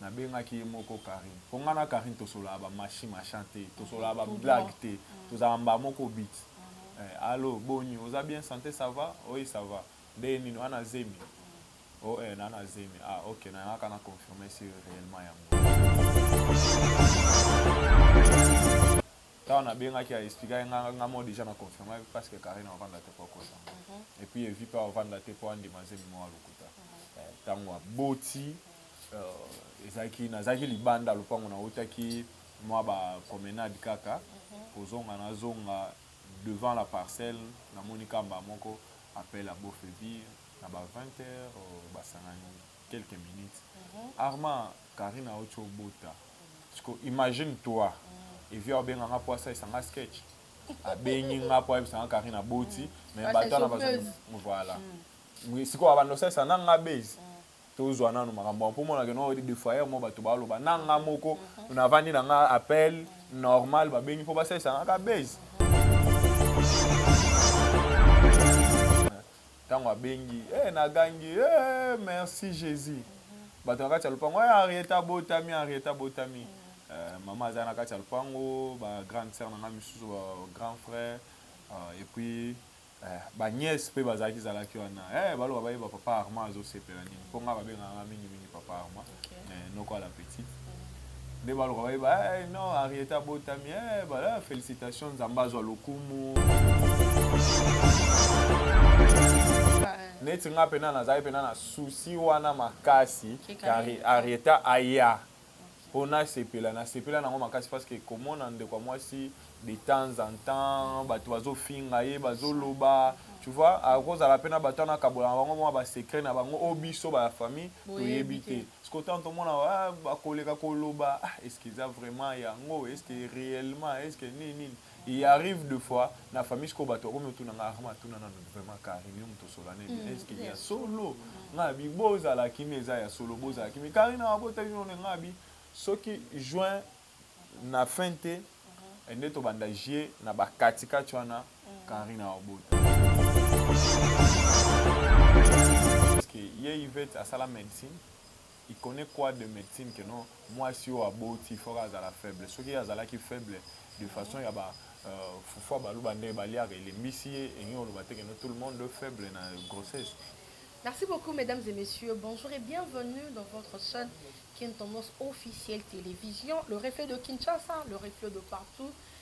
Na bengaki ye moko Carine po nga na Carine tosololaka ba machi machan te tosololaka ba blague te tozalaka mbala moko but eh allo boni oza bien sante ça va oui ça va ndenge nini oza na zemi oh eh naza na zemi ah ok na yangaka na confirme si reellement yango Tango na bengaki a expliquaki nga nga moko dejà na confirmaki parce que Carine avanda te po akosa nga et puis Evi pe avanda te po andima zemi moko ya lokuta eh tango aboti Euh, ezalaki nazalaki libanda lopango nautaki mwa bapromenade kaka kozonga nazonga devant la parcelle namoni kamba moko appel à bofebi na ba 20 heures euh, basangani quelques minutes mhm. arma karine auti obota siko imagine toi mhm. evi aobenga nga po asalisa nga sketch abengi nga po ayebisa nga karine aboti mhm. mais bato wana bazo voilà sikoyo abanda osalisa na nga base tozua nanu makambo yango po mona ke non de foyer moko bato baloba na nga moko navandi na nga appel normal babengi po basalisa nga ka buzz ntango abengi eh, nagangi eh, merci jesus bato na kati ya lopango eh, henriette abotami henriette abotami eh, mama aza na kati ya lopango ba grande sœur na nga misusu ba grand frère euh, et puis Eh ba nièce pe bazalaki zalaki wana eh baloba bayeba papa Armand azosepela nini po nga babengaka nga mingi mingi papa Armand eh noko à la petite nde baloka bayeba eh non Henriette abotami eh bala felicitation Nzambe azwa lokumu neti nga pena nazalaki pena na souci wana makasi Henrietta aya po n'a sepela n'a sepela nango makasi parce que komona ndeko ya mwasi de temps en temps batu bazo finga ye bazo loba tu vois ako zala pe n'a batu wana akabola na bango mua ba secret na bango oyo biso ba famille toyebi te sikoyo tango tomona aah bakoleka koloba ah est ce que eza vraiment yango est ce que reellement est ce que nini nini Il arrive de fois na famille sikoyo bato bakomi otuna nga arma atuna nanu vraiment carine yo moto osola nini mm, eske ya solo mm. nga bi bozala kimi eza ya solo bozala kimi carine abota bino ne nga bi soki juin na fin te mm-hmm. nde tobanda jie na bakatikati wana carine mm. abota ye ivete asala médecine Il connait quoi de medecine que non muasi oyo aboti il faut kaka azala faible soki ye azalaki faible de façon ya ba fufu ya baluba ndenge baliaka elembisi ye elingi koloba te que non tout le monde faible na grossesse. Merci beaucoup mesdames et messieurs bonjour et bienvenue dans votre chaine kin tendance officielle television le reflet de Kinshasa le reflet de partout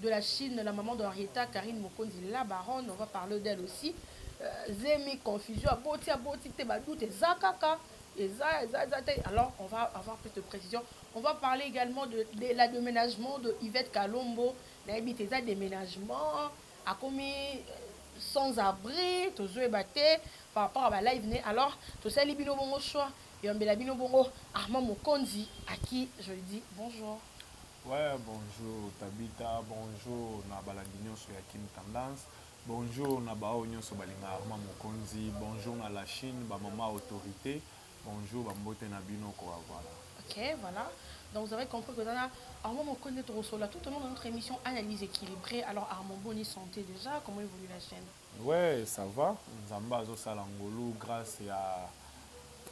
de la chine la maman de Henrietta Carine Mokonzi la baronne on va parler d'elle aussi zemi confusion aboti aboti te ba doute eza kaka eza eza eza te alors on va avoir plus de précision on va parler également de, de la déménagement de Yvette Kalombo nayebi te eza déménagement akomi sans abri tozoyeba te par rapport à ba live ne alors tosali bino bongo choix yambela bino bongo Armand Mokonzi à qui je dis bonjour Ouais bonjour Tabita bonjour na balandi nionso ya Kin Tendance bonjour na ba oyo nionso balingaka Armand Mokonzi bonjour na la Chine ba maman autorite bonjour ba mbote na bino kua voilà. Ok voilà donc vous avez compris que eza na Armand Mokonzi nde tokosolola tout au long de notre emission analyse equilibree alors Armand boni sante dejà comment evolue la chaine? Ouais ça va nzambe azo sala ngolu grace ya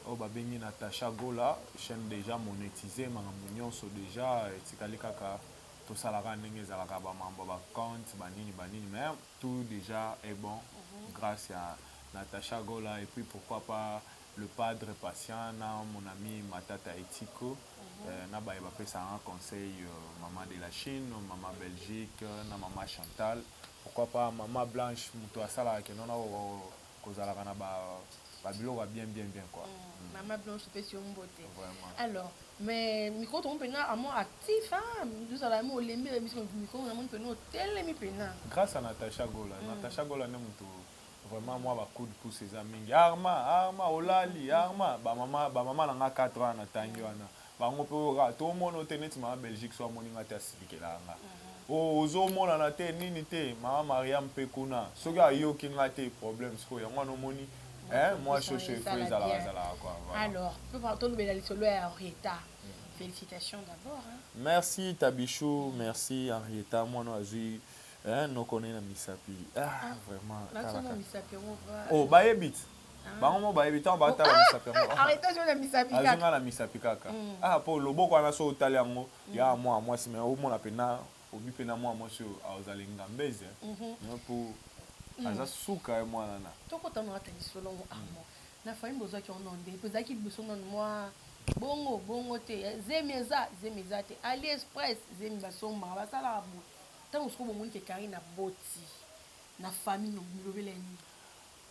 oyo ba bengi Natacha Gola chaine dejà monetise makambo nionso dejà etikali kaka tosala kaka ndenge ezalaka ba mambo ya ba compte ba nini ba nini mais tout dejà est bon grace ya Natacha Gola et puis pourquoi pas le padre patient na mon ami Matata Etiko na baye ba pesaka nga conseil maman de la Chine maman Belgique na maman Chantal. Pourquoi pas maman blanche mutu asalaka que non na kozalaka na ba biloko ya bien bien bien quoi. Maman blanche topesi yo mbote. Alors mais micro tomoni pena amo actif hein ozala amo olembi ba emission mais micro namoni pena otelemi pena. Grace à Natacha Gola, Natacha Gola nde mutu vraiment mua ba coup de pouce eza mingi arma arma olali arma ba maman ba maman na nga 4 wana na tangi wana Bango pe oyo kaka to mono te neti mama Belgique soki amoni nga te asilikelaka nga oh ozo monana te nini te mama Mariam pe kuna soki ayoki nga te problème sikoyo yango wana omoni eh mua chaud chaud il faut ezalaka zalaka quoi voilà. Alors papa to lobela lisolo ya Henrietta felicitations d'abord hein. Merci Tabichou merci Henrietta muana oyo azui eh noko ne na misapi ah vraiment kala kaka oh ba yebite. bango mo bayebi ntango bakatala misapi yangoazwi nga na misapi kaka ah mpo loboko wana so otali yango ya mwa mwasi me omona mpena obi mpena mwa mwasi oyo azala engambeze mpo aza suka ye mwana na tokota na kata lisolo yango amo na fayimbo ozwaki ono nde mpo ezalaki liboso nano mwa bongo bongo te zemi eza zemi eza te ali express zemi basombaka basalaka boye ntango soko bomoni ke kari na boti na famille bilobela nini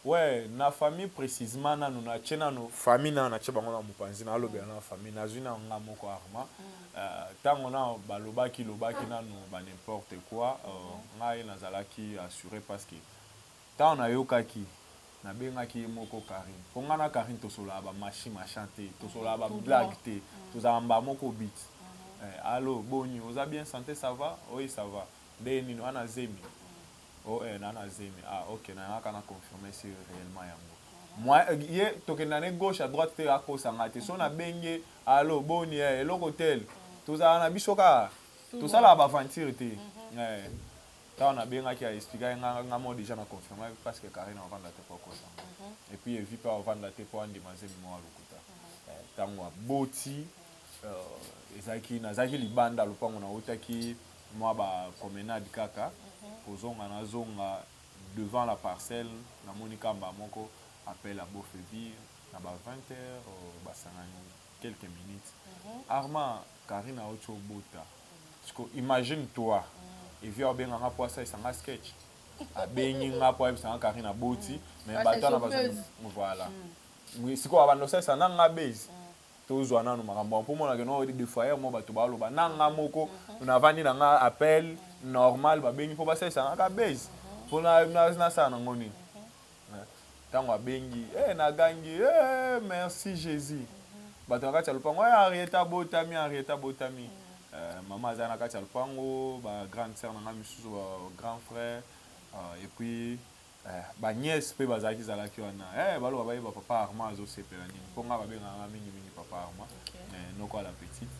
Ouais na famille precisement nanu na tie nanu famille nanu na tie bango na mopanzi na lobela nanu famille nazui nanu nga moko arma tango nanu ba lobaki lobaki nanu ba n'importe quoi ngai na zalaki assure parce que tango na yokaki na bengaki ye moko Carine po nga na Carine to sololaka ba machi machin te to sololaka ba blague te to zalaka mbala moko but eh allo boni oza bien sante ça va? Oui ça va nde nini wana zemi Oh eh naza na zemi ah ok na yaka na confirmer si reellement yango moyen eh, ye tokenda ne gauche à droite te akosa nga te so na bengi ye allo boni eh eloko tel tozala na biso kaka tosalaka ba aventure te eh ntango nabengaki ya explikaki nga nga mo deja na confirmaki parce que Karine avanda te mpo akosa nga et puis evi mpe avanda te mpo andima zemi moko ya lokuta Eh, ntango aboti euh, ezalaki nazalaki libanda lopango nautaki mwa ba promenade kaka kozonga na zonga devant la parcelle na moni ka mbala moko appel ya Bofebi na ba 20 heures ba sangani quelques minutes Armand Carine awuti obota sikoyo imagine toi Evi abenga nga po asalisa nga sketch abengi nga po ayebisa nga Carine aboti mais ba tala ba voilà sikoyo abanda kosalisa na nga buzz tozua nanu makambo wana po mona ke nao de foyer mwa bato ba loba na nga moko na vandi na nga appel normal ba bengi po ba salisa nga ka buzz po na na sala na ngo nini tango abengi eh na gangi eh merci Jesus bato na kati ya lopango eh Henriette abotami Henriette abotami eh, mama aza na kati ya lopango ba grande sœur na nga misusu ba grand frère uh, et puis Eh ba nièce pe bazalaki zalaki wana eh baloba bayeba papa Armand azosepela nini po nga babengaka nga mingi mingi papa Armand eh noko à la petite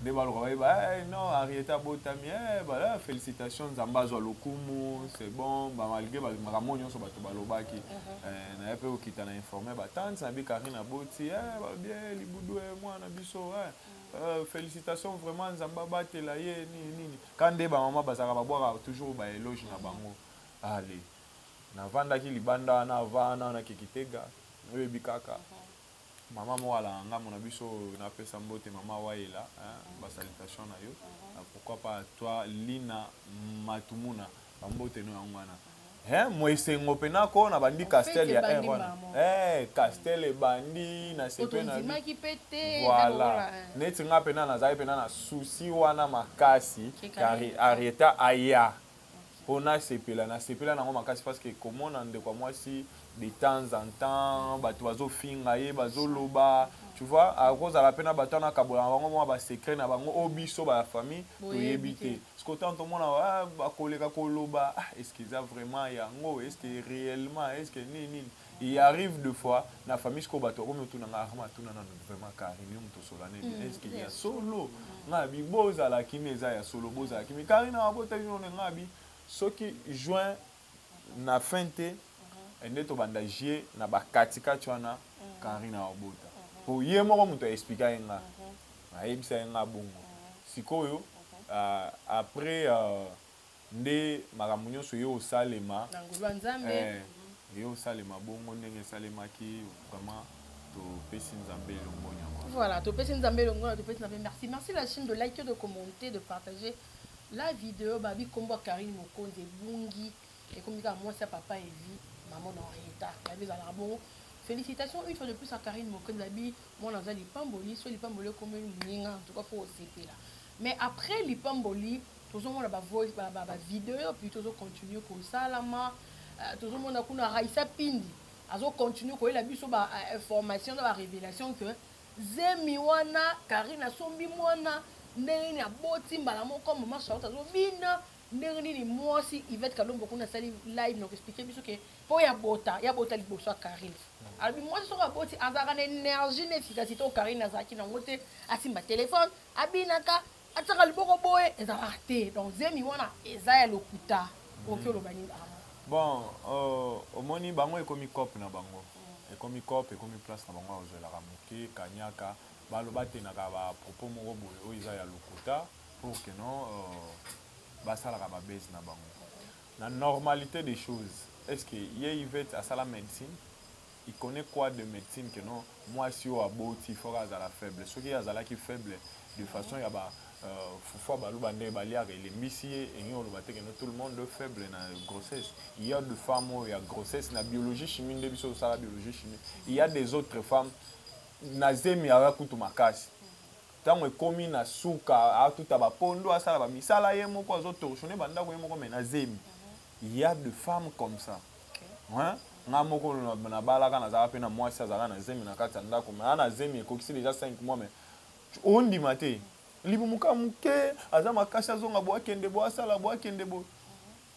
nde baloka bayeba eh non Henriette abotami eh ba eh, felicitation Nzambe azwa lokumu c'est bon ba malgré ba makambo oyo nyonso bato balobaki eh naye pe kokita na informer ba tante na bi Carine aboti eh balobi eh libudu eh mwana biso eh eh, felicitation vraiment Nzambe abatela ye nini nini ka nde ba mama bazalaka babwaka toujours ba eloge na bango Allez. Navandaki libanda wana avant wana na ke Kitega, oyebi kaka. Maman moko alaka ngambo na biso oyo napesa mbote maman Wayela hein, ba salutations na yo. Pourquoi pas à toi Lina Matumuna, ba mbote no yango wana. He mua esengo pena ko nabandi Castel ya heure wana. He Castel ebandi nasepeli na vie. Voilà. Neti nga pena nazalaki pena na souci wana makasi que Henrietta aya. po nasepela na sepela nango makasi parce que komona ndeko ya mwasi de temps en temps batu bazo finga ye bazo loba tu vois akozala pe na batu wana akabola na bango mwa ba secret na bango o biso ba famille toyebi te siko tango tomona bakoleka koloba ah est ce que eza vraiment yango est ce que reellement est ce que nini nini Il arrive de fois na famille sikoyo bato bakomi otuna nga arma atuna nanu vraiment carine yo moto osola nini mm, eske ya solo mm. nga bi bozala kimi eza ya solo bozala kimi carine abota bino ne nga bi soki juin na fin te mm-hmm. nde tobanda jie na bakatikati wana mm-hmm. carine aobota mm-hmm. po ye moko moto aexplika ye nga ayebisa ye nga bongo sikoyo euh, après euh, nde makambo nyonso eye osalema na ngolu ya nzambe eye osalema bongo ndenge esalemaki vraiment topesi nzambe longonya voilà topesi nzambe longonya topesi na pe merci merci la chine de like de commenter de partager la video babi kombo ya karine mokonzi ebungi ekomi kaka mwasi ya papa evi maman na henrieta babi ezalaka bongo Félicitations une fois de plus à Karine Mokonzi Abi, mwana aza lipamboli, so lipamboli ekomeli muninga, en tout cas faut osepela. Mais après lipamboli tozo mona ba voice ba ba ba video puis tozo continue ko salama tozo mona kuna Raissa Pindi azo continue ko yela biso ba information na ba revelation que zemi wana Carine asombi mwana ndenge nini aboti mbala moko maman Charlotte azo bina ndenge nini mwasi Yvette Kalombo kuna asali live na ko expliquer biso que po ya bota ya bota liboso ya Carine alobi mwasi soki aboti azalaka na energie na efficacite oyo Carine azalaki na yango te asimba telephone abinaka atiaka liboko boye ezalaka te donc zemi wana eza ya lokuta oki hmm. oloba nini awa bon euh, omoni bango ekomi cope na bango hmm. ekomi cope ekomi place na bango ya kozwelaka moke kanyaka baloba tenaka bapropos moko boye oyo eza ya lokuta pour que non euh, basalaka babase na bango na normalité des choses est ce que ye ivete asala médecine Il connait quoi de medecine que non muasi oyo aboti il faut kaka azala faible soki ye azalaki faible de façon ya ba fufu ya baluba ndenge baliaka elembisi ye elingi koloba te que non tout le monde faible na grossesse il ya de femme oyo ya grossesse na biologie chimie nde biso tosala biologie chimie il ya des autres femmes na zemi aza kutu makasi ntango ekomi na suka atuta bapondo asala bamisala ye moko azotorchone bandako ye moko me na zemi il ya de femme comme ça Hein? Nga moko na balaka nazalaka pe na mwasi azalaka na zemi na kati ya ndako mais ana zemi ekokisi deja 5 mois mais ondima te libumu ka muke aza makasi azonga bo akende bo asala bo akende bo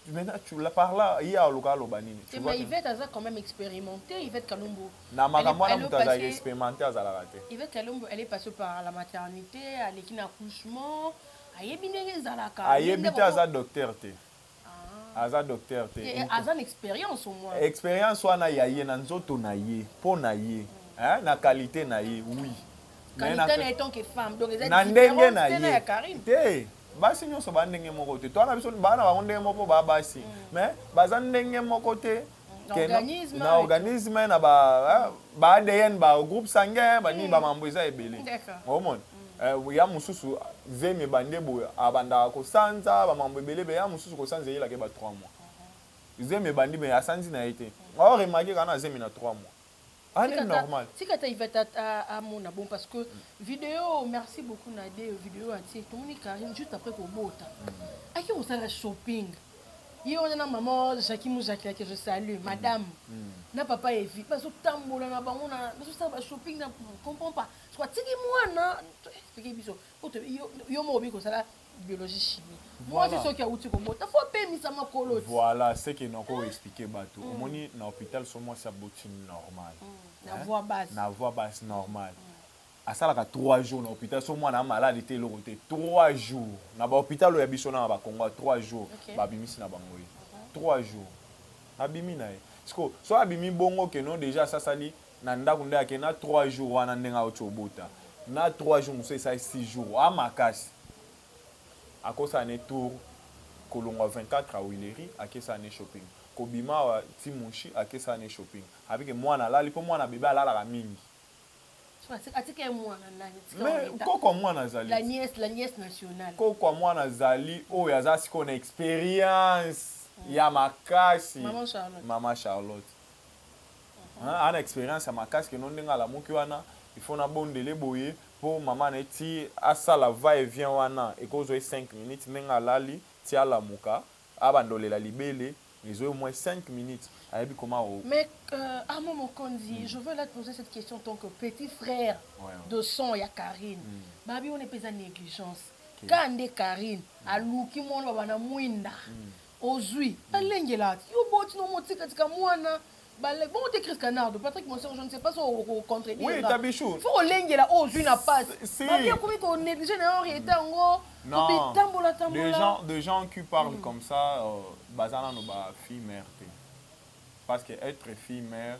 maintenant tu la par là ye aluka aloba nini tu vois Yvette aza quand même expérimenté Yvette Kalumbu na makambo wana moto azalaka expérimenté azalaka te Yvette Kalumbu elle est passée par la maternité aleki na accouchement ayebi ndenge ezalaka ayebi te aza docteur te aza docteur te eh, aza na experience au moins experience wana ya ye na nzoto na ye mpo na ye hein, na qualité na ye oui na ndenge na ye te basi nyonso ba ndenge moko te twana biso bana bango ndenge moko ba basi mm. mais baza ndenge moko te na organisme na ba ba ADN ba groupe sanguin ba nini ba mambo eza ebele omona euh, ya mosusu zemi ebande boye abandaka kosanza ba mambo ebele be ya mosusu kosanza eyelaka ye ba 3 mois zemi ebandi me asanzi na ye te aoremake kana zemi na 3 mois Tika ta tika ta Ivette amona bon parce que video merci beaucoup na de video atie tomoni Carine juste après kobota ake kosala shopping ye wana na maman Jackie Muzaki ake je salue madame na papa Evi bazotambola na bango na bazosala ba shopping na comprends pas soit tiki mwana toyebi biso yo moko obi kosala biologie chimie mwasi soki awuti kobota fo apemisa makolo voilà ce que nako ah. expliquer bato mm. omoni na hôpital so mwasi aboti normal mm. na voix basse na voix basse normal mm. asalaka 3 jours na hôpital so mwana ya maladi te eloko te 3 jours na bahôpital oyo ya biso na na bakongo ya 3 jours okay. babimisi na bango ye 3 jours abimi na ye sikoyo so abimi bongo keno deja asasali Na ndaku nde ake na trois jours wana ndenge awuti obota na trois jours mosusu esali six jours oa makasi akosala ne tour kolongua 24 ya huilerie ake sala ne shopping kobima awa ti mushi ake sala ne shopping abi ke muana alali po muana bebe alalaka mingi mais koko ya muana azali koko ya muana azali oyo aza sikoyo na experience ya makasi mama charlotte Hein aza na experience ya makasi que non ndenge alamuki wana il faut na bondele boye po maman na ye ti asala va et vient wana eko zwa ye cinq minutes ndenge alali ti alamuka abanda olela libele ezo ye au moins cinq minutes ayebi comment au Mais euh, Armand Mokonzi, je veux là te poser cette question en tant que petit frère de sang ya Carine. Babi wana pe eza negligence. Ka nde Carine aluki mwana babanda mwinda. Ozui. Alengela. Yo boti no mo tika tika muana. Bale. Bongo te Chris Canardo. Patrick Monsengo je ne sais pas so oko contredire nga. Oui ta bichou. Faut olengela o ozui na passe. Si. Ba bien komi ko negliger na yo reta ngo. Non. Kobi tambola tambola. Des gens, des gens qui parlent mm. comme ça, euh, bazana no ba fille mère te. Parce que être fille mère,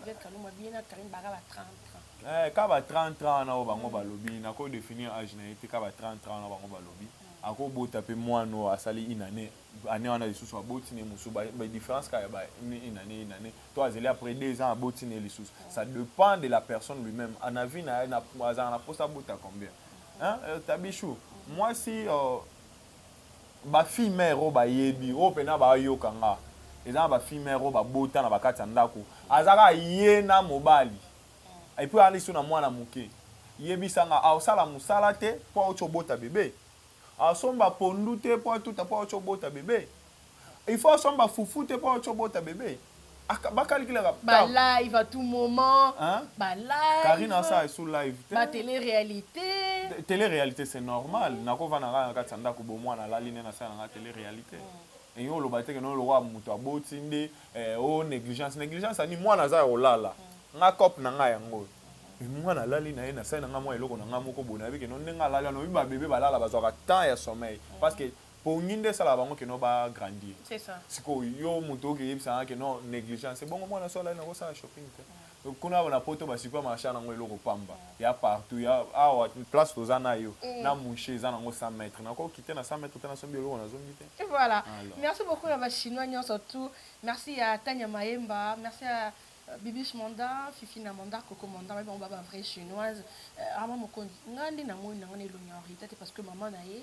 Miguel Kalumba bien na Carine baka ba 30 30. Eh ka ba 30 30 wana oyo bango balobi nako definir age na ye te ka ba 30 30 wana bango balobi ako bota pe mwana oyo asali une annee annee wana lisusu aboti na ye mosusu ba ba difference kaka ya ba une annee une annee to azali après deux ans aboti na ye lisusu ça depend de la personne lui meme na vie na ye na azalaka na posa abota combien hein tabichou mwasi euh, Ba fille mère oyo ba yebi oyo pena ba yoka nga eza na ba fille mère oyo ba bota na ba kati ya ndaku aza kaka ye na mobali et puis aza lisu na mwana muke yebisa nga a sala musala te po awuti obota bebe a somba pondu te po atuta po awuti obota bebe Il faut asomba fufu te po autio bota bebe. Aka ba calculaka Ba temps. live à tout moment. Hein? Ba live. Carine asa esu live te. Ba tele realite. Te- Tele realite c'est normal. Nako vanda nga na kati ya ndako bo mwana alali nde na sala nga tele realite. Et yo oloba te que no lokola mutu aboti nde eh, oh negligence. Negligence ya nini? Mwana aza ya kolala. Nga cop na nga yango oyo. Mais mwana alali na ye na sali na nga mwa eloko na nga moko boye nayebi que no ndenge alali wana oyebi ba bebe balala bazwaka temps ya sommeil parce que pongi nde esalaka bango que non ba grandir sikoyo yo mutu oke yebisa nga que non negligence ebongo muana sola ye nako sala shopping te donc kuna na poto ba super marche aza nango eloko pamba ya partout ya awa place toza nayo na mushe eza nango 100 mètre nako kite na 100 mètre te na sombi eloko na zombi te voilà merci beaucoup na ba chinois nionso tout merci ya tanya mayemba merci ya bibiche manda fifi na manda coco manda ba bango ba ba vrai chinoise rama mokonzi nga nde na moni na nga na elongi ya henrietta te parce que maman na ye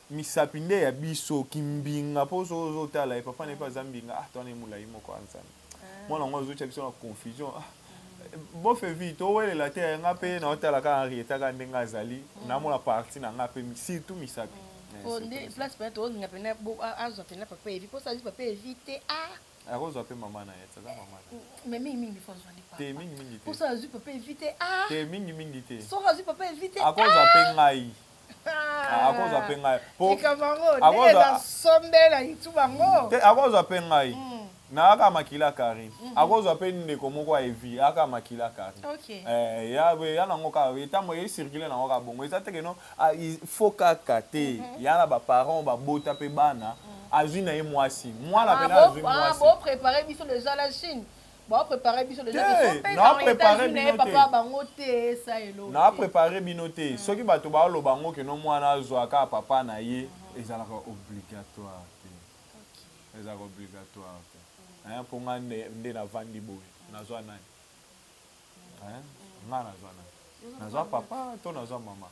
Misapi nde ya biso kimbinga po soki ozo tala ye papa na ye pe aza mbinga ah toi na ye mulayi moko ah nzambe mwana ngo azo tia biso na confusion ah bofe vie to welela te nga pe nao tala kaka Henrietta kaka ndenge azali na mona partie na nga pe surtout misapi po nde place pena tozo linga pena azua pena papa Evi po soki azui papa Evi te ah ako zua pe maman na ye te aza maman na ye mais mingi mingi il faut azua nde papa te mingi mingi te po soki azui papa Evi te ah te mingi mingi te soki azui papa Evi te ah ako zua pe ngai akozwa mpe ngai te akozwa mpe ngai hmm. naaka makila kari mhm. akozwa mpe ndeko moko ya evi aka makila kari eh, ya nango kaka etambo ecircule nango kaka bongo eza teke no ah, fo kaka te mhm. ya na baparent babota mpe bana mhm. azwi na ye mwasi mwana ah, mpe na azwi ah, mwasi Ba prepare biso deja te so pe na prepare bino te papa bango te sa elo na prepare bino te mm. soki bato ba loba ngo ke no mwana azwa ka papa na ye mm-hmm. ezalaka obligatoire te ezalaka obligatoire te mm. hein po nga nde nde na vandi boye mm. nazwa nani hein nga nazwa nani nazwa papa to nazwa mama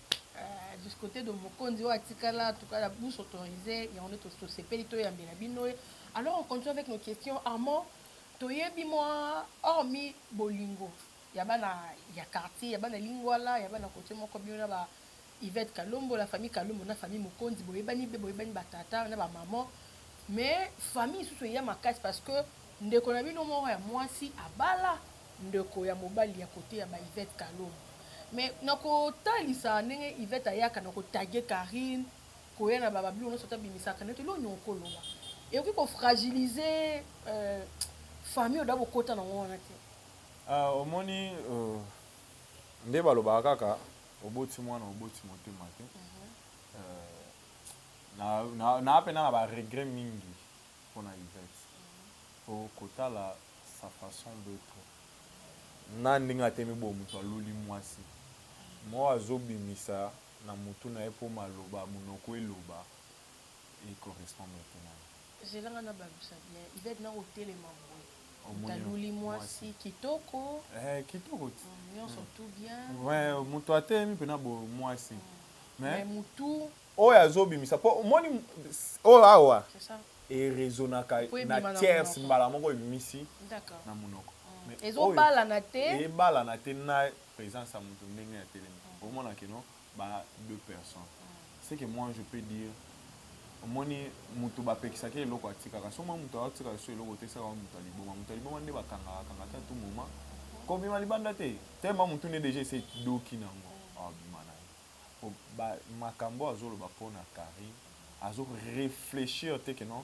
discote de mokonzi oyo atikala en tout cas la bouche autorisée yango nde tosepeli toyambela bino ye alors on continue avec nos questions armand toyebi mwa hormi bolingo ya bana ya quartier ya bana lingwala ya bana kote moko bino na ba ivete kalombo la famille kalombo na famille mokonzi boyebani be boyebani batata na bamaman mais famille isusu eya makasi parce que Ndeko na bino moko ya muasi abala ndeko ya mobali ya cote ya ba Yvette kalombo mais nako talisa ndenge Yvette ayaka nako taguer Carine koya na ba ba biloko nionso ata abimisaka neti eloko nini oko loba ekoki ko fragiliser famille oda bo kota nango wana te. Ah omoni nde ba lobaka kaka oboti muana oboti motema te na na pena na ba regret mingi. pona Yvette po kotala sa façon d'etre na ndenge atemi boye mutu aluli muasi moko azo bimisa na mutu na ye po maloba munoko eloba e correspondre te na ye. Zela nga na balusa bien Yvette nako telema boye mutu aluli muasi kitoko eeh kitoko nionso tout bien mutu atelemi pena boye muasi mais mutu. Oyo azo bimisa po omoni oyo awa e resonaka na tierce mbala moko ebimisi na munoko mais oyo ebalana te na presence ya mutu ndenge atelemi okomona que non ba deux personnes ce que moi je peux dire omoni mutu ba pekisaka ye eloko atikaka soki omoni mutu azo tika lisusu eloko otekisaka yango mutu ya liboma mutu ya liboma nde ba kangaka kangaka te à tout moment ko bima libanda te tellement mutu nde dejà esi edoki nango awa bima nayo. Po ba makambu oyo azo loba pona Carine azo reflechir te que non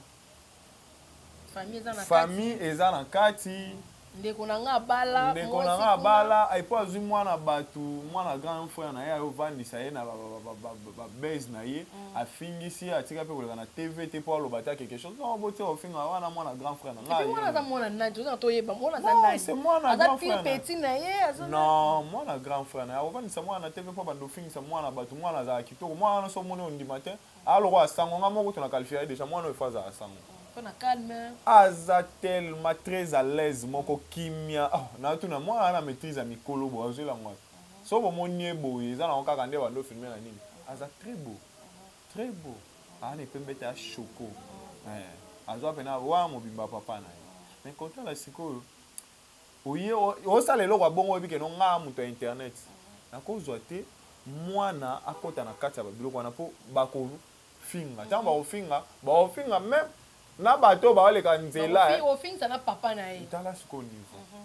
famille eza na kati ndeko na nga abala ndeko na nga abala epuis azui mwana batu mwana grand frère naye ayo vandisa ye na ba baise naye afingisi atika mpe koleka na tv te mpo aloba ata quelque chose non botia kofinga wana mwana grand frère na ngai mwana aza mwana nani tozanga toyeba mwana aza nani c'est mwana grand frère petit na ye aza non mwana grand frère na ye akofandisa mwana na tv mpo banda ofingisa mwana bato mwana azala kitoko mwana wana so omoni ondima te aloko asango nga moko tona qualifie ye déjà mwana oyo fo azala sango aza tellement très à l'aise moko kimia oh, natuna mwana na maîtrise ya mikolo bo azwela mwana soki bo moni ye boye eza nango kaka nde bando filme na nini aza très beau très beau aza na epembe te ya choco eh azua pena wana mobimba papa na ye mais kotala sikoyo oye osala eloko ya bongo oyebi keno nga moto ya internet nakozwa te mwana akota na kati ya babiloko wana mpo bakofinga ntango bakofinga bakofinga meme na bato baoleka nzela eh. tala sikoyo niveau mhm.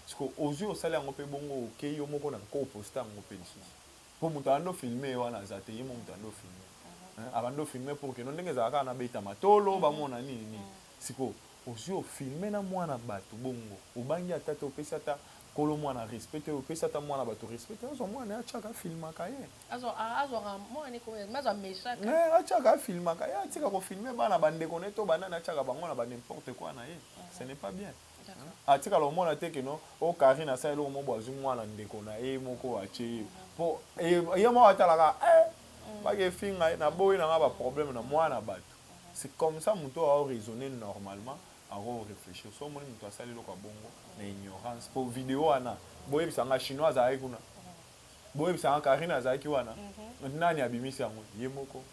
Sikoyo ozui osali yango pe bongo okeyi yo moko na nko o posta yango pe lisusu po mutu abandi o filme ye wana aza te ye moko mutu abandi o filme hein abandi o filme pour que no ndenge ezalaka kaka na beta matolo ba mona nini nini sikoyo ozui o filme na mwana batu bongo obangi ata te opesi ata kolo mwana respect te opesi ata mwana batu respect te azua mwana a chaka a filmaka ye eh a chaka a filmaka ye atika ko filme bana ba ndeko na ye to ba nani a chaka bango na ba n'importe quoi na ye ce n'est pas bien. Atikala komona te que non oyo Carine asala eloko moko boye azwi mwana ndeko na ye moko atye ye mpo ye moko atala kaka eh baki efinga ye naboyi na nga ba problème na mwana batu c'est comme ça moto oyo ako raisonner normalement ako reflechir soki omoni moto asali eloko ya bongo na ignorance mpo video wana boyebisa nga chinois azalaki kuna boyebisa nga Carine azalaki wana nani abimisi yango ye moko.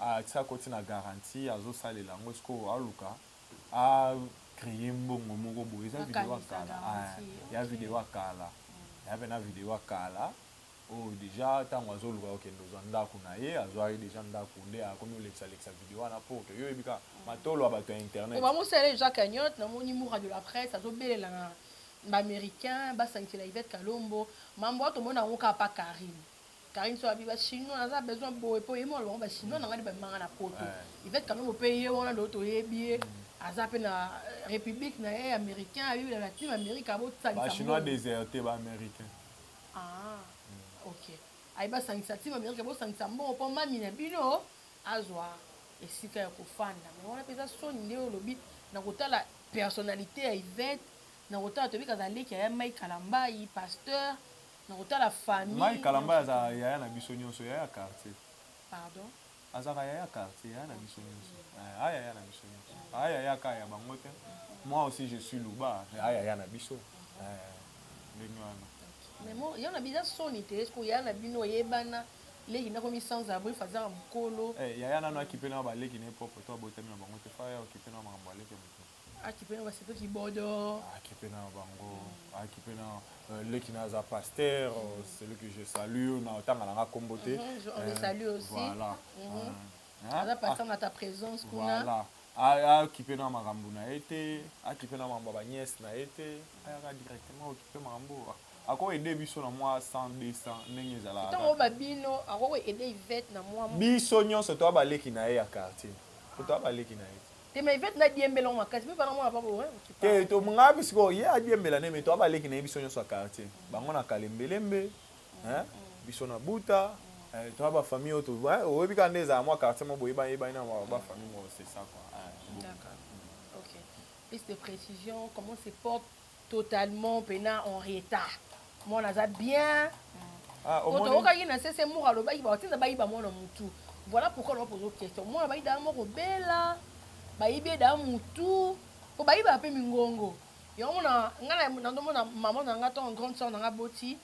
asi akoti na garantie azo salela yango sikoyo aluka a cree mbongo moko boye eza video ya kala ya video ya kala ya pena video ya kala oyo deja tango azo luka kokende ozwa ndaku na ye azwaki deja ndaku nde akomi olekisa lekisa video wana po to yo ebika matolo ya batu ya internet ba mosala ye deja cagnotte na moni mura de la presse azo belela na ba americain ba sangisela Yvette kalombo mambo wana to mona yango kaka pa carine Carine so abi ba chinois aza besoin boye po yemo alobaka ba chinois na ngani ba manga na poto Yvette Kalombo pe ye wana do to yebi ye aza pe na euh, république na ye américain ayebi na latine amérique abo tsalisa ba chinois déserté ba américain ah ok aye ba sangisa team amérique abo sangisa mbongo po mami na bino azwa esika ya kofanda mais wana peza soni nde olobi na kotala personnalité ya Yvette na kotala toyebi kazaleki ya Mike Kalambayi pasteur Nakotala famille. Mike kalambay azalaka yaya na biso nionso yaya ya quartier. Pardon? Azalaka yaya ya quartier yaya na biso nionso eh a yaya na biso nionso a yaya ka ya bango te moi aussi je suis luba mais a yaya na biso eh ndenge wana. Mais mo ya na biza soni te est ce que yaya na bino oyebana leki na komi sans abri faza mukolo eh yaya nanu akipe na ba leki na ye propre to abotami na bango te fa ya okipe na makambo ya leki ya mutu. akipe na basepe kibodo akipe na bango akipe na euh, leki na za pasteur euh, celui que je salue na tanga na nga kombo te mhm, on le euh, salue aussi voilà mhm. ah, aza pasteur ah. na ta présence kuna voilà akipe na makambo na ye te akipe na makambo ya baniese na ye te ayaka directement okipe makambo ako aide biso na mwa 100 200 ndenge ezalaka ntango babino akoki aide ivete na mwa biso nyonso toa baleki na ye ya quartier toa baleki na ye te mais Yvette na diembela ngo makasi pe bana mwana papa orin hein, okipa te to nga bi siko ye adiembela ne mais to aba leki na biso nyoso ya quartier mm. bango na kalembelembe mm. hein mm. biso na buta mm. eh, to aba famille oto hein oyebi ka ndeza mwa quartier mo boyeba yeba ina ba, ba famille mo c'est ça quoi hein, okay plus de précision comment se porte Totalement pena en retard mwana aza bien ah, omoni tokokaki na sese moko alobaki ba tinda bayiba mwana mutu voilà pourquoi na pozo question mwana bayi da moko bela bayibi da mutu po bayiba pe mingongo yango mona nga na ndomona maman na nga to grande sœur na nga boti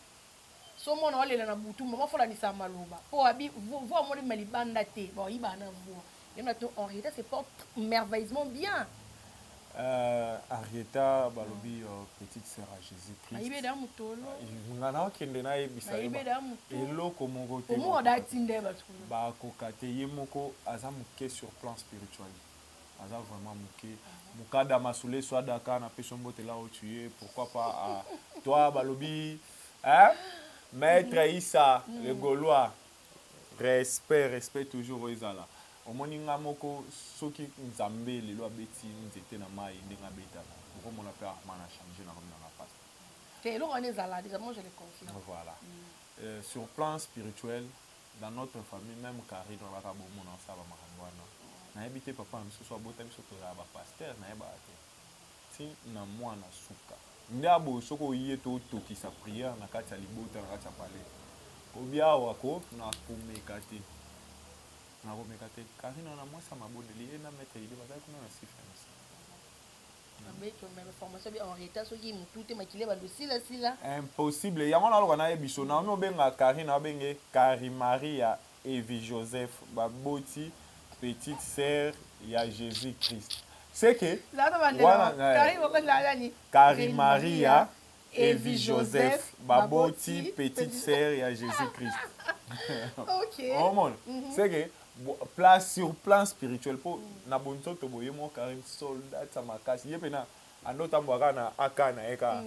Soki mwana oyo alela na butu, maman faut olandisa maloba po abi voix yango ebima libanda te, ba yibaka na voix. Yango na to Henrietta se porte merveilleusement bien. Euh, Henrietta balobi euh, petite sœur ya Jesus Christ. Nayebi ye da mutolo. Nga na okende na yebisa Nayebi ye da yo mutolo. eloko moko te. Omo da tinda ye batu kuna. Ba koka te, ye moko aza muke sur plan spirituel. Aza vraiment muke. Mukada Masule Suadaka na pesi yo mbote là où tu es, pourquoi pas à toi balobi Hein? Maître Issa, le Gaulois. Respect, respect toujours ezala. Omoni nga moko soki Nzambe lelo abeti nzete na mayi ndenge abetaka, oko mona pe Armand na changer na komi na nga pasta. Te, eloko wana ezala dejà, moi je le confirme. Voilà. Euh, sur plan spirituel, dans notre famille, meme Carine wana kaka bo mona asala ba makambo wana. Na yebi te papa na biso soki abota biso tozala ba pasteurs, na yebaka te. Ti na muana suka nde aboyo soki oye to tokisa prière na kati ya libota na kati ya palais obi awa ko na komeka te na komeka te Carine wana muasi ya mabondeli ye na maitre Elie bazali kuna na sifa ya misa impossible yango wana aloka na ye biso Naomi obenga Carine abenga ye Carimaria Evi Joseph ba boti petite sœur ya Jesus Christ ce que wana Carine Maria Evi Joseph ba boti petite sœur ya Jesus Christ omona ce que place sur plan spirituel po na bonzoto boye moko Carine soldate ya makasi ye pena ando otambola kaka na AK naye kaka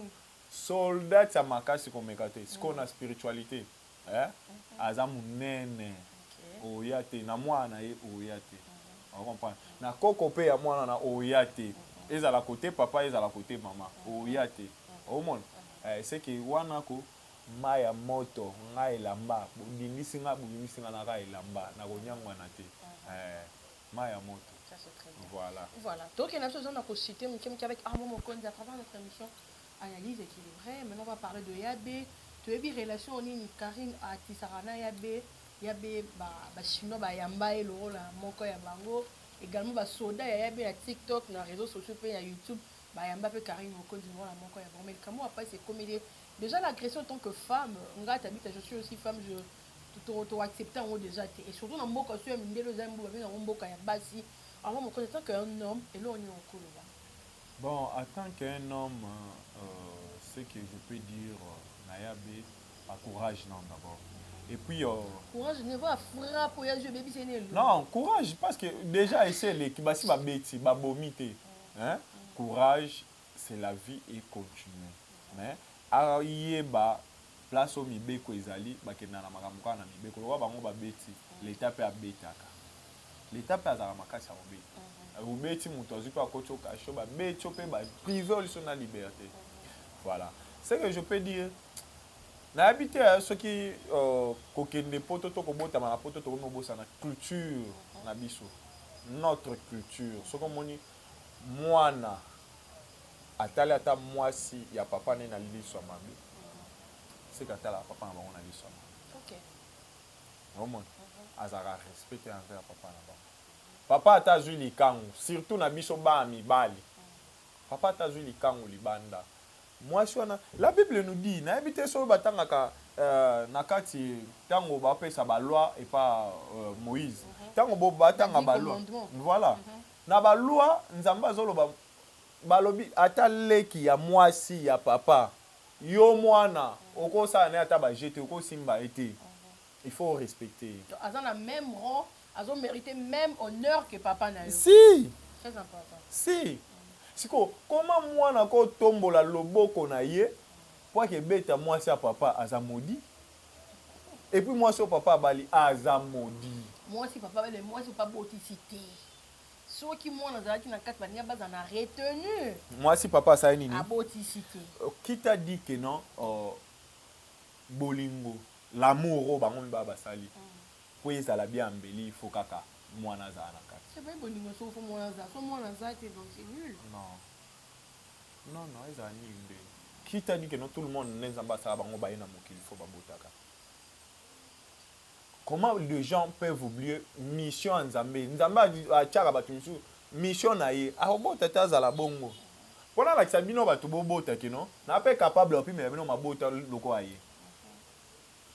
soldate ya makasi komeka te sikoyo na spiritualite eh aza munene oya te na mwana na ye oya te o comprendre na koko pe ya mwana na oya te ezala cote papa ezala cote mama oya te omona eh ce que wana ko mayi ya moto nga elamba bo ningisi nga bo ningisi nga naka elamba na ko niangwana te eh mayi ya moto voilà voilà tokende na biso eza na ko cite mukie mukie avec armand mokonzi à travers notre emission Analyse equilibre maintenant va parler de ya be toyebi relation nini carine atisaka na ya be ya be ba ba chinois ba yamba ye lokola moko ya bango egalement ba soda ya ya be na tik tok na reseau sociaux pe ya youtube ba yamba pe carine mokonzi lokola moko ya bango mais likambo ya pasi ekomeli ye dejà l'agression tant que femme nga tabita je suis aussi femme je to to accepte yango dejà te et surtout na mboka oso ya mindele oza mboka babenga yango mboka ya basi alors mokonzi tant que un homme eloko nini okoloba Bon à tant que un homme ce que je peux dire na ya be ba courage nao d'abord et puis euh. Courage ne va frappe oyo azwi ebebisi ye na elongi. Non courage parce que dejà esi eleki basi ba beti ba bomi te hein courage c'est la vie et continue mais ayeba place oyo mibeko ezali bakenda na makambo kaka na mibeko lokola bango ba beti l'etat pe abetaka L'etat pe azalaka makasi ya kobeta obeti mutu azui pe akoti yo cachot ba beti yo pe ba prive yo lisusu na liberte voilà ce que je peux dire nayebi te soki kokende poto to kobotama na poto tokomi kobosana culture na biso notre culture soki omoni mwana atali ata mwasi ya papa ne na liso ya mabe seke atalaka papa na bango na liso ya mabe Omona azalaka respect te envers papa na bango. Papa ata azui likangu surtout na biso bana mibali papa ata azui likangu libanda muasi wana la bible nous dit nayebi te soki batangaka na kati tango bapesa ba loi epa Moïse tango bo batanga ba loi voilà na ba loi nzambe azoloba balobi ata leki ya muasi ya papa Yo muana oko sala naye ata ba jeux te oko simba ye te il faut o respecter ye. Donc aza na meme rang azo merite meme honneur que papa na yo. Si! Très important. Si! Sikoyo comment muana ako tombola loboko na ye po ake beta muasi ya papa aza maudit? Et puis muasi oyo papa abali aza maudit. Muasi papa abali mais muasi papa abotisi te. soki mwana azalaki na kati baninga bazala na retenu mwasi papa asali nini abotisi te euh, kita dit que non uh, bolingo l'amour oyo bango mibaa basali mm. mpo ezala bia mbeli ifo kaka mwana azala na kati epai bolingo soko fo mwana azala so mwana aza te donc c'est nul non non non ezala nini nde kita dit que non tout le monde nde nzambe asala bango baye na mokili fo babotaka Comment de gens peuvent oublier mission ya nzambe nzambe atiaka batu misusu mission na ye akobota te azala bongo po nalakisa bino batu bobota ke no na pe capable ya kopimela bino mabota lokola ye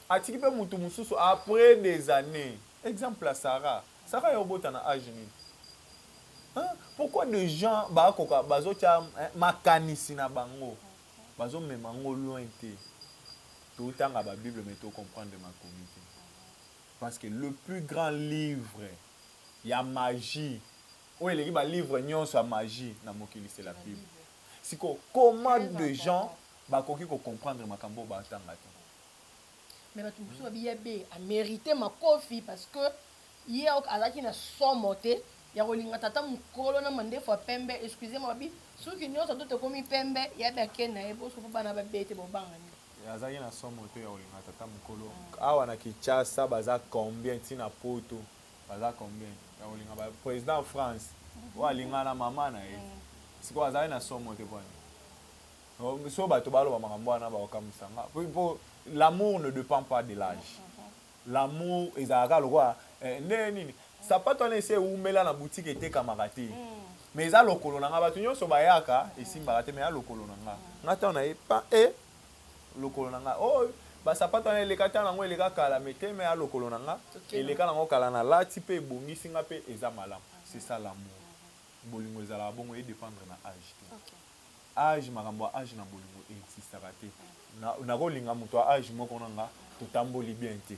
atiki pe mutu mususu apres des annees exemple ya Sarah Sarah yo obota na age nini hein pourquoi de gens bakoka bazotia makanisi na bango Bazo mema ngo loin te. To tanga ba bible mais to comprendre makomi te. Parce que le plus grand livre ya magie oyo eleki ba livre nionso ya magie na mokili c'est la bible. Sikoyo comment de gens ba koki ko comprendre makambo oyo ba tanga te? Mais batu mosusu ba bi ya be a merite makofi parce que Ye ok azalaki na somo te ya kolinga tata mukolo na mandefu ya pembe excusez moi bi suki nionso tout ekomi pembe ya bi ake naye bo suki bana ba bete bo banga nini. Ye azalaki na somo te ya kolinga tata mukolo awa na kinshasa baza combien ti na poto baza combien ya kolinga ba president ya france oyo alinga na maman naye sikoyo azalaki na somo te pona nini soki batu baloba makambo wana bako kamuisa nga po l'amour ne depend pas de l'age. L'amour ezalaka kaka lokola eh ndenge nini? Sapatu wana esi ewumela na boutique etekamaka te mais eza lokolo na nga batu nionso bayaka esimbaka te mais eza lokolo na nga nga tango naye pa eh lokolo na nga oh ba sapatu wana eleka tango nango eleka kala mais te mais eza lokolo na nga eleka nango kala na lati pe ebongisi nga pe eza malamu c'est ça l'amour bolingo ezalaka bongo e dependre na age te. Age makambo ya age na bolingo e existaka te Nako linga moto ya age moko na nga To tamboli bien te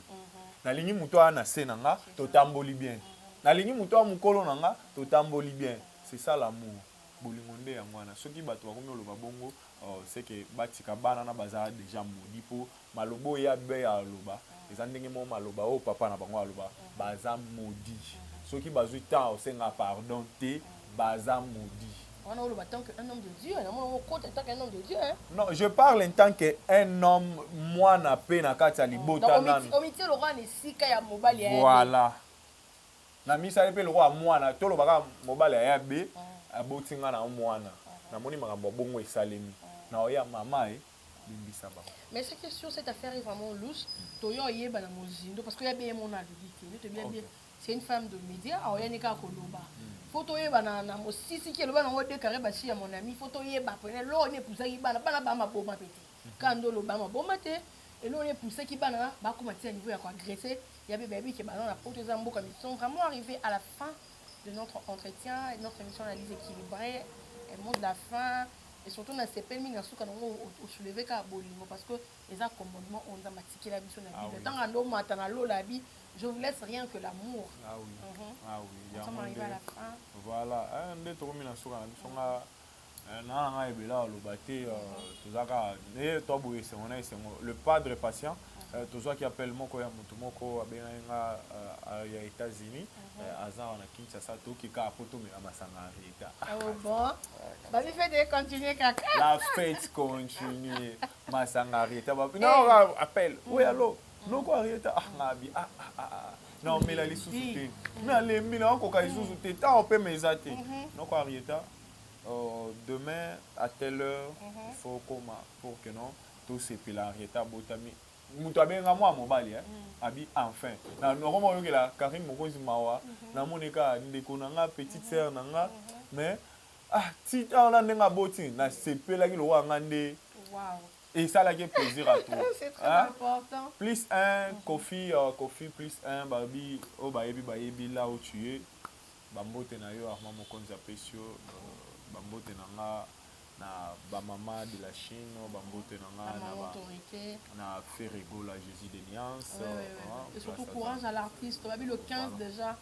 Na lingi moto aya na se na nga To tamboli bien Na lingi moto aya mokolo na nga To tamboli bien C'est ça l'amour Bolingo nde yango wana Soki bato bakomi oloba bongo oh C'est que ba tika bana na baza dejà maudit Po Maloba oyo ye abey aloba eza ndenge moko maloba oyo papa na bango aloba baza maudit soki bazui temps ya kosenga pardon te baza maudit. Wana oloba tant que un homme de Dieu namona yango okota en tant qu'un homme de Dieu hein. Non je parle en tant que un homme mwana pe na kati ya libota nanu. Donc omitie lokola na esika ya mobali ya ya be. Voilà na misali pe lokola mwana toloba kaka mobali ya ya be aboti nga na mwana namoni makambo ya bongo esalemi na oya mama eh. bembisa bango. Mais ce qui est sûr, cette affaire est vraiment louche. Toyo oyeba na mozindo parce que ya bien mon alobi te. Ndoto bien bien. C'est une femme de média, a oyani ka koloba. Faut toyeba na na mosisi ki eloba nango de carré basi ya mon ami, faut toyeba pene lo ne puzaki bana bana ba maboma pete. Kando lo ba maboma te. Elo ne puzaki bana ba koma tia niveau ya ko agresser. Ya bebe bi ke bana na poto eza mboka mais sont vraiment arrivés à la fin de notre entretien, notre émission analyse équilibrée, un mot de la fin. Et surtout na sepeli mingi na suka na ngo o soulever ka bolingo parce que eza commandement oyo nzambe atikela biso na bible tango ando mata na lola abi je vous laisse rien que l'amour ah oui mm -hmm. ah oui yango nde voilà eh, nde tokomi na suka na biso nga eh, na nanga ebela aloba te euh, mhm. tozaka nde to boye esengo na esengo le padre patient mhm. euh, tozwaki appel moko ya motu moko abengaki nga euh, ya états-unis mhm. Eh, aza wana kinshasa toki kaka mpo tomela masanga ya reta oh, bon babi fete econtinue kaka la fete continue masanga reta babi eh. non ah, appel oui mm. allo mm. noko reta ah ngabi ah ah ah, ah. na omela lisusu te mm. nalembi na okoka lisusu te ntango mpe meza te mm-hmm. noko arieta oh, demain à telle heure mm-hmm. il faut okoma pour que non tosepela arieta abotami mutu abenga mua mobali hein abi enfin na koma oyokela Carine mokonzi mawa na moni ka ndeko na nga petite sœur na nga mais ah ti ah na ndenge aboti na sepelaki lokola nga nde waouh esalaki ye plaisir ya trop c'est très hein? important plus un koffi uh, koffi plus un babi oyo oh, bayebi bayebi là où tu es Ba mbote na yo Armand Mokonzi apesi yo ba mbote na nga na ba maman de la Chine ba mbote na nga na ba na Ferre Gola Jesus de Niance oui, oui, oui. Hein, et surtout courage à l'artiste babi le 15 voilà. déjà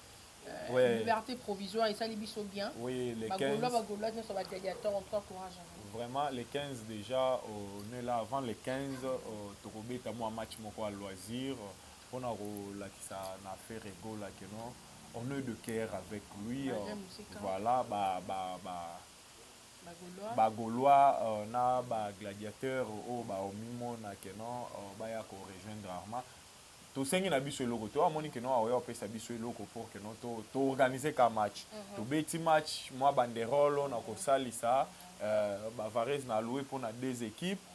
Euh, ouais. liberté provisoire esali biso bien oui, les 15... bagolois nyonso bagladiateur en tout cas courage vraiment les 15 déjà on est là avant les 15 euh, tokobeta mwa match moko ya loisir pona kolakisa na Ferre Gola que non on est de coeur avec lui voilà ba ba ba ba golois euh, na ba gladiateur oyo oh, baomimona que non euh, baya ko rejoindre arma tosengi na biso eloko te oyo amoni ke no aoya opesa biso eloko pour ke no toorganize to ka match mm -hmm. tobeti match mwa banderolo na kosalisa uh, euh, bavarese na aloue mpo na deux équipes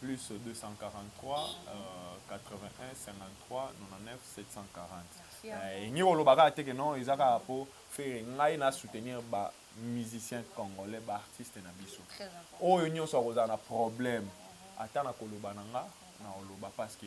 plus 2438153740 elingi koloba kaka te ke non eza kaka po ferre ngai na soutenir ba musiciens congolais ba artistes na biso oyo nionso akozala na problème ata na koloba na nga na koloba parce que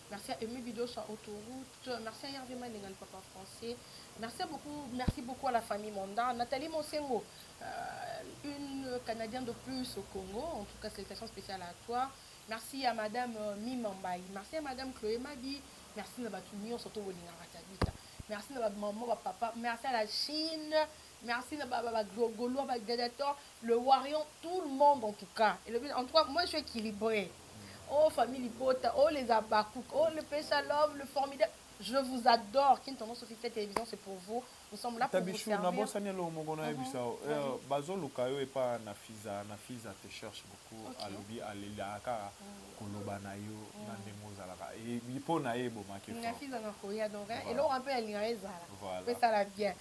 Merci à Aime Bidosha Autoroute, merci à Hervé Malenga le papa français, merci beaucoup, merci beaucoup à la famille Monda, Nathalie Monsengo, euh, une Canadienne de plus au Congo, en tout cas salutations spéciales à toi, merci à madame euh, Mimambaï, merci à madame Chloé Mabi, merci na batu nionso to bolingaka Tabita, merci na ba maman, ba papa, merci à la Chine, Merci na ba ba golois ba gladiator le warrion tout le monde en tout cas elobi en tout cas moi je suis equilibre oh famille libota oh les abakouk oh le pesa love le formidable je vous adore kin tonton sophie cette télévision c'est pour vous nous sommes là pour vous servir tabichou na bosani eloko moko na yebisa yo uh -huh. uh, bazoluka yo epa na fiza na fiza te cherche beaucoup okay. alobi alelaka kaka mm. koloba na yo mm. na ndenge ozalaka mpo na ye ebomaki na fiza na koya donc eloko mpe alinga ezala mpe sala bien